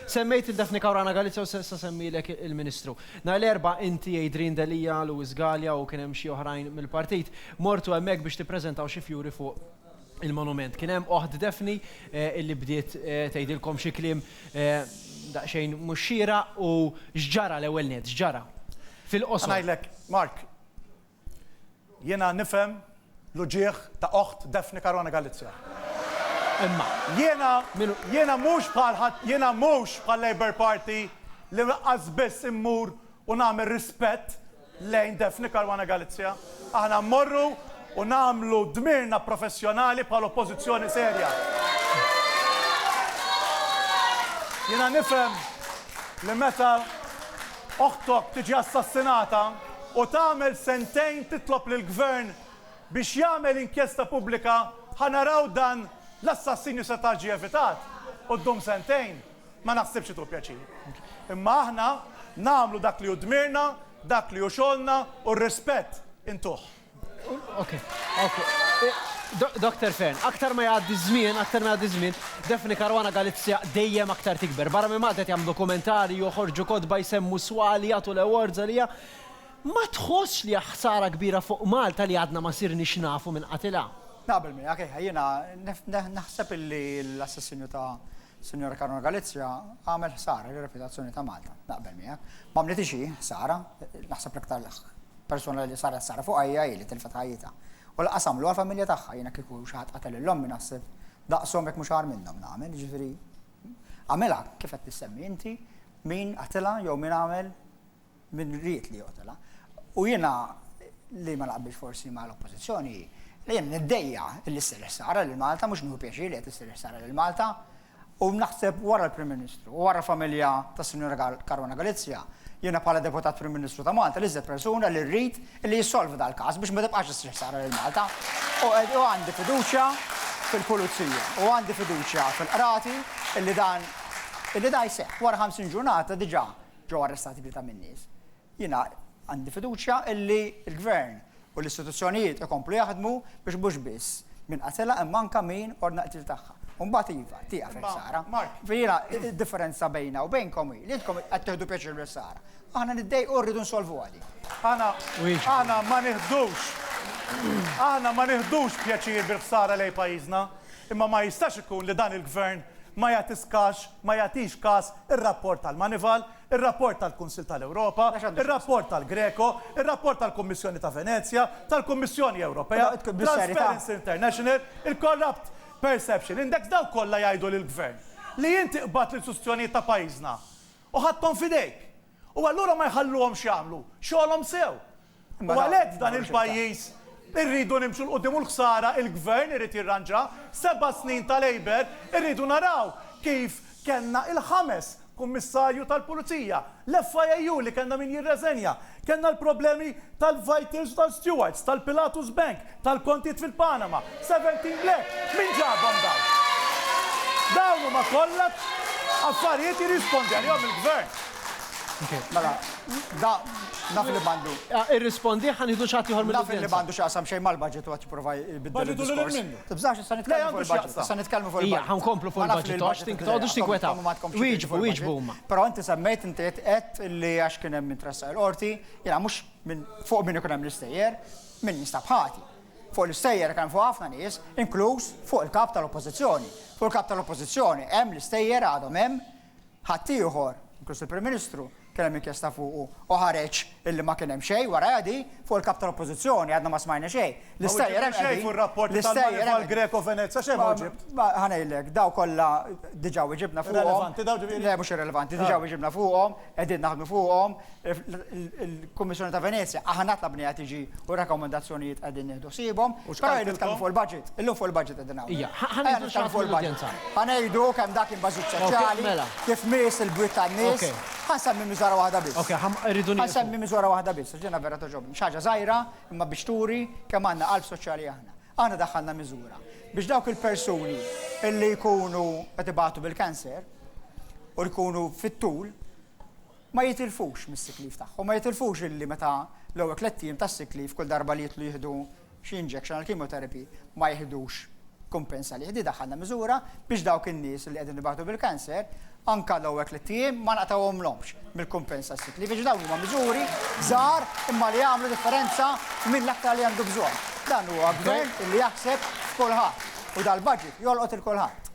Semmejt lil Daphne Caruana Galizia u s'issa semmilek il-Ministru. Nhar l-Erbgħa inti, Adrian Delia, Louis Galea u kien hemm xi oħrajn mill-Partit, mortu hemmhekk biex tippreżentaw xi fjuri fuq il-monument. Kien hemm oħt Daphne illi bdiet tgħidilkom xi kliem daqsxejn mhux xieraq u x'ġara l-ewwel nett, x'ġara? Fil-qosor. Ngħidlek, Mark, Jiena nifhem l-uġigħ ta' oħt Daphne Caruana Galizia. Imma. Jiena, jiena mhux bħal ħadd, jiena mhux bħal Labour Party li laqqas biss immur u nagħmel rispett lejn Daphne Caruana Galizia. Aħna mmorru u nagħmlu dmirna professjonali bħal oppożizzjoni serja. Jiena nifhem li meta oħtok tiġi assassinata, u tagħmel sentejn titlob lill-Gvern biex jagħmel inkjesta pubblika ħa naraw dan l-assassinju seta' ġie evitat u ddum sentejn, ma naħsibx li tu pjaċir. Imma aħna nagħmlu dak li hu dmirna, dak li hu xogħolna u r-rispett intuh. Dr. Fearne, aktar ma jgħaddi ż-żmien, aktar ma jgħaddi ż-żmien, Daphne Caruana Galizia dejjem aktar tikber. Barra minn Malta qed jagħmlu dokumentarji, joħorġu kotba, jsemmu swali, jagħtu l-awards għaliha. Ma tħossx li hija ħsara kbira fuq Malta li għadna ma sirniex nafu minn qatilha? Naqbel miegħek, iva. Jiena naħseb illi l-assassinju ta' Sinjura Caruana Galizia għamel ħsara lir-reputazzjoni ta' Malta. Naqbel miegħek. Ma għamlitilhiex hi ħsara. Naħseb l-iktar persuna li saret ħsara fuqha hija hi li tilfet ħajjitha. U lanqas għamluha l-familja tagħha. Jiena kieku xi ħadd qatel lill-ommi naħseb Daqshom jekk mhux agħar minnhom nagħmel, jiġifieri, għamilha kif qed issemmi inti, min qatilha jew min għamel, min ried li joqtolha. U jiena li ma naqbilx forsi mal-Oppożizzjoni hi li jien niddejja li ssir ħsara lil Malta, mhux nieħu pjaċir li qed issir ħsara lil Malta, u naħseb wara l-Prim Ministru u wara familja tas-Sinjura Caruana Galizia, jiena bħala Deputat Prim Ministru ta' Malta l-iżjed persuna li rrid li jissolvi dal-każ biex ma tibqax issir ħsara lil Malta. U għandi fiduċja fil-Pulizija u għandi fiduċja fil-Qrati illi dan illi dan jseħħ. Wara 50 ġurnata diġà ġew arrestati tlieta min-nies. Jiena għandi fiduċja illi l-Gvern u l-istituzzjonijiet ikomplu jaħdmu biex mhux biss min qatilha imma anke min ordna l-qtil tagħha. U mbagħad iva, tieqaf il-ħsara. Jiena d-differenza bejna u bejnkom hi li intkom qed tieħdu pjaċir bil-ħsara. Aħna niddejqu u rridu nsolvuha din. Aħna aħna ma nieħdux aħna ma nieħdux pjaċir bil-ħsara lejn pajjiżna, imma ma jistax ikun li dan il-Gvern ma jagħtis kax ma jagħtix każ ir-rapport tal-Moneyval, ir-rapport tal-Kunsill tal-Ewropa, ir-rapport tal-GRECO, ir-rapport tal-Kummissjoni ta' Venezja, tal-Kummissjoni Ewropea, Transparency International, il-Corrupt Perception Index, dawk kollha jgħidu lill-Gvern li inti qbadt l-istituzzjonijiet ta' pajjiżna U ħadthom f'idejk. U allura ma jħalluhomx jagħmlu xogħolhom sew. U għalhekk f'dan il-pajjiż irridu nimxu 'l quddiem u l-ħsara il-Gvern irid jirranġaha. Seba' snin ta' Labour irridu naraw kif kellna il-ħames Kummissarju tal-Pulizija, l-FIAU li kellna min jirreżenja, kellna l-problemi tal-Vitals u tal-Stewards, tal-Pilatus Bank, tal-kontijiet fil-Panama, 17 le! Min ġabhom dawn? Dawn huma kollha affarijiet jirrispondi għalihom il-Gvern. Mela, da naf li m'għandu. Irrispondi ħa nieħdu xi ħadd ieħor mill-Udjenza. Naf li m'għandu x'jaqsam xejn mal-budget u qed jipprova jbiddel id-diskors. Tibżax issa nitkellmu fuq il-budget. Issa nitkellmu fuq il-budget. Ejja, ħa nkomplu fuq il-budget. Toqgħodux tinkwetaw. Wieġbu, wieġbu huma. Però inti semmejt, inti qed li għax kien hemm min tressaq il-Qorti, jiena mhux fuq min ikun hemm l-istejjer. Min jinstab ħati? Fuq l-istejjer hekk hemm fuq ħafna nies, inkluż fuq il-Kap tal-Oppożizzjoni. Fuq il-Kap tal-Oppożizzjoni hemm l-istejjer għadhom hemm. Ħaddieħor, inkluż il-Prim Ministru, kien hemm inkjesta fuqu u ħareġ illi ma kien hemm xejn warajha di. Fuq il-Kap tal-Oppożizzjoni għadna ma smajna xejn. L-istejjer hemm qegħdin. Ma wieġibtx xejn fuq ir-rapporti tal-Manival Greco-Venezia, xejn ma wieġibt. Ma ħa ngħidlek, dawn kollha diġà wieġibna fuqhom. Irrelevanti dawn ġifieri? Le mhux irrelevanti, diġà wieġibna fuqhom. qegħdin naħdmu fuqhom, il-Kummissjoni ta' Venezja, aħna tlabniha tiġi u r-rakkomandazzjonijiet qegħdin nieħdu ħsiebhom, però qegħdin nitkellmu fuq il-budget, illum fuq il-budget qegħdin hawn. Ija, ħa ngħidu xi ħaġa fuq il-budget. Ħa ngħidu kemm dak kien baġit soċjali, kif miss il-bwiet tan-nies, ħa nsemmi miżura waħda biss. Okej, ħa rridu nieqfu. Ħa nsemmi miżura waħda biss, għax jiena vera togħġobni. Xi ħaġa żgħira, imma biex turi kemm għandna qalb soċjali aħna. Aħna daħħalna miżura biex dawk il-persuni li jkunu qed ibatu bil-cancer u jkunu fit-tul ma jitilfux mis-sick leave tagħhom, ma jitilfux illi meta l-ewwel tlett ijiem tas-sick leave kull darba li jitlu jieħdu xi injection għall-chemotherapy ma jiħdux kumpens għalih. Din daħħalna miżura biex dawk in-nies li qegħdin ibatu bil-cancer Anke l-ewwel tlitt ijiem ma nqtgħuhomlhomx mill-kumpensa sick leave għax dawn huma miżuri żgħar imma li jagħmlu differenza f'min l-aktar li għandu bżonn. Dan huwa Gvern li jaħseb f'kulħadd u dal-budget jolqot 'il kulħadd.